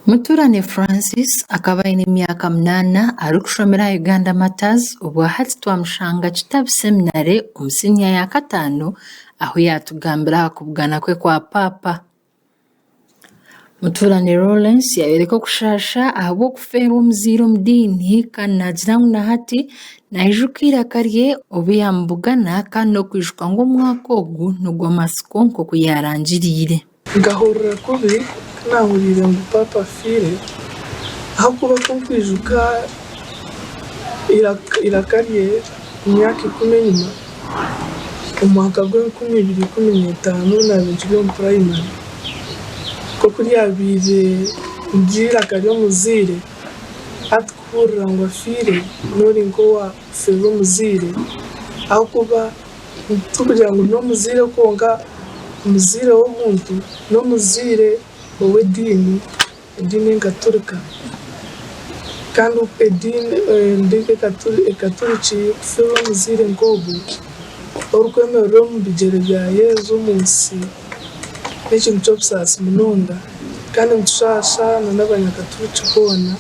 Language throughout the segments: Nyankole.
Muturane Francis akaba aine emyaka munaana arikushomera aha Uganda Martyrs obwahati twamushanga Kitabi Seminary omu siniya yaakataano ahu yaatugambira aha kubugana kwe kwa paapa. Omutuurani Lawrence yaayoreka okushaasha ahabw'okufeerwa omuzaire omu diini kandi naagira ngu na hati naijuka eiraka rye obu yaamubugana kandi n'okwijuka ngu omwaka ogwo n'ogw'amatsiko nk'oku yaarangiriire. Nkahurira kubi ku naahuriire ngu paapa afiire ahabw'okuba ku nkwijuka eiraka rye. Emyaka ikumi enyima, omu mwaka gw'enkumi ibiri ikumi n'etaano naabiire nkiri omu purayimari, nk'oku ryabaire niryo eiraka ry'omuzaire, hati kuhuurira ngu afiire n'ori nk'owa kufirwa omuzaire ahabw'okuba tikugira ngu n'omuzaire kwonka, omuzaire w'omuntu n'omuzaire ow'ediini Ediini Enkaturika, kandi oku ediini endiijo Ekaturiki kufiirwa omuzaire nk'ogwo orikwemerera omu bigyere bya Yesu omu nsi n'ekintu ky'obusaasi munonga, kandi nikishaasha n'Abanyakaturiki boona.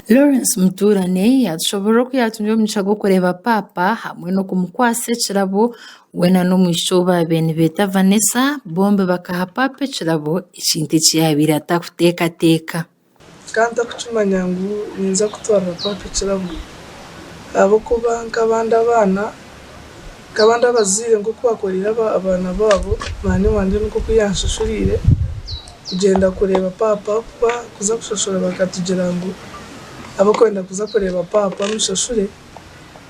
Lawrence Mutuurane yaatushoboorora oku yaatunire omugisha gw'okureeba Paapa hamwe n'okumukwatsa ekirabo We na n'omwishiki ou baabaire nibeeta Vanessa bombi bakaha paapa ekirabo, ekintu eki yaabaire atakuteekateeka. Ka ntarikukimanya ngu niinza kutwarira paapa ekirabo ahabw'okuba nk'abandi abaana, nk'abandi abazaire nk'oku baakoreire abaana baabo, mwanyina wangye nikwo ku yaanshashuriire kugyenda kureeba paapa ahabw'okuba kuza kushashura bakatugira ngu ab'okwenda kuza kureeba paapa omushashure.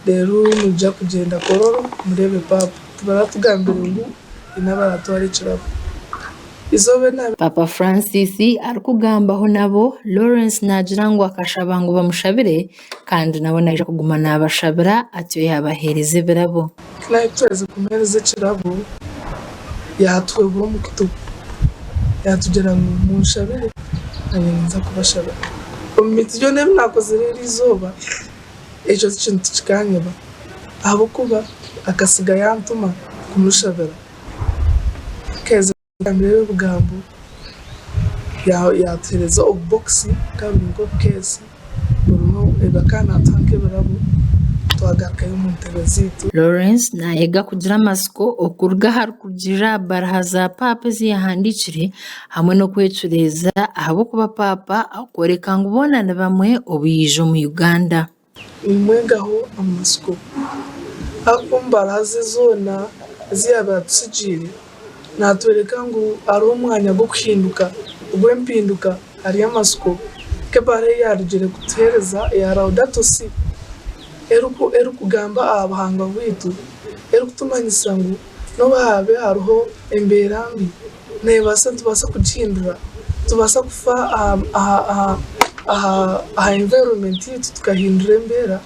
reero noija kugyenda kororo mureebe paapa tibaratugambire ngu haine abaratwara ekirabo eizooba eri Paapa Francis arikugambaho nabo Lawrence naagira ngu akashaba ngu bamushabire kandi nabo naija kuguma naabashabira atyo yaabaheereza ebirabo. Ku naabe twaherize kumuheereza ekirabo yaatuhwehura omu kutu yaatugira ngu munshabire nanye ninza kubashabira omu miiti yoona ei naakozire eri eizooba. Ekyo ti kintu kikanyeba, ahabw'okuba akasiga yaantuma kumushabira. Nkaheza kumugambira ebyo bigambo, yaatuhereza obubokisi bukaba buri nk'obukeesi burimu ebi akaba naatuha nk'ebirabo, twagarukayo omu ntebe zaitu. Lawrence naayega kugira amatsiko okuruga aha rukugirirra aha baraha za paapa ezi yaahandiikire hamwe n'okwecureeza ahabw'okuba Paapa arikworeka ngu boona ni bamwe obu yaija omu Uganda. Nimwegaho amatsiko ahabw'okuba omu mbara ze zoona ezi yaabaire atutsigiire, naatworeka ngu hariho omwanya gw'okuhinduka ogw'empinduka ahari amatsiko nk'ebara ei yaarugire kutuheereza eya Laudato Si, erikugamba aha buhangwa bwaitu, erikutumanyisa ngu n'obu haabe hariho embeera mbi, neebaasa nitubaasa kugihindura nitubaasa kufa aha environment yaitu tukahindura embeera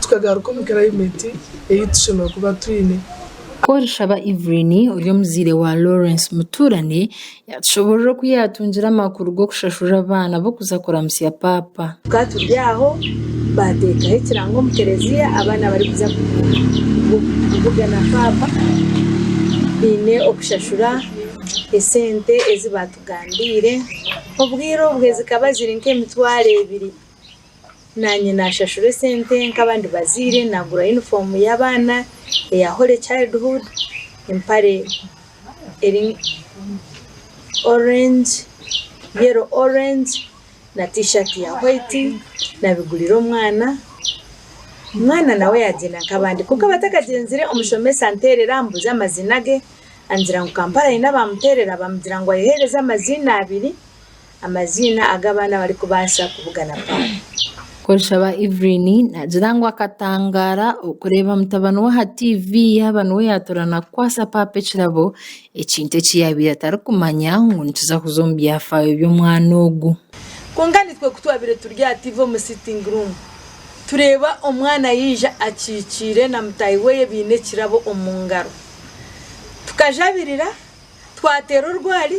tukagaruka omu climate ei ei tushemereire kuba twine. Kworashaba Evelyn ori omuzaire wa Lawrence mutuurane yaatushoboorora oku yaatungire amakuru g'okushashura abaana b'okuza kuramutsya paapa. Tukaba turi aho, baateekaho ekirango omu kereziya abaana barikuza kuvuga na paapa baine okushashura esente ezi baatugambiire. Obwire obwe zikaba ziri nk'emitwaro ebiri. Naanye naashashura esente nk'abandi bazaire, naagura yunifoomu y'abaana eya Holy Childhood, empare eri orengi, yero orengi. na t-shirt ya white nabigurira omwana omwana nawe yagyenda nkabandi kwonka abatakagyenzire omushomesa anterera ambuza amazina ge angira ngu Kampala ayine abamuterera bamugira ngu ayehereze amaziina abiri amaziina agu abaana abarikubasa kubugana papa. Nkoreshaba Evelyn nagira ngu akatangara okureba mutabani we aha TV yaba niwe yatora nakukwasa papa ekirabo Ekintu eki yaabaire atarikumanya ngu nituza kuza omu byafaayo by'omwana ogu. Kwonka naitwe ku twabaire turi aha tiivi omu sitting room, tureeba omwana yaija akikiire na mutaahi we baine ekirabo omu ngaro. Tukajabirira, twateera orwari.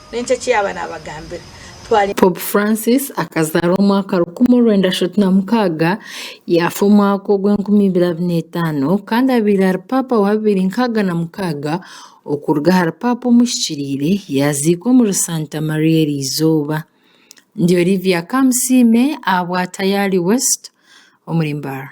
N'enki eki yaaba naabagambira? Twari. Pope Francis akazaarwa omwaka rukumi orwenda ashatu na mukaaga, yaafa omwaka ogw'enkumi ibiri abiri n'etaano, kandi abaire ari Paapa wa bibiri nkaaga na mukaaga okuruga ahari Paapa omuhikiriire, yaaziikwa omuri Santa Maria Eriizooba. Ndi Olivia Kamusiime ahabwa Tayari West omuri Mbarara.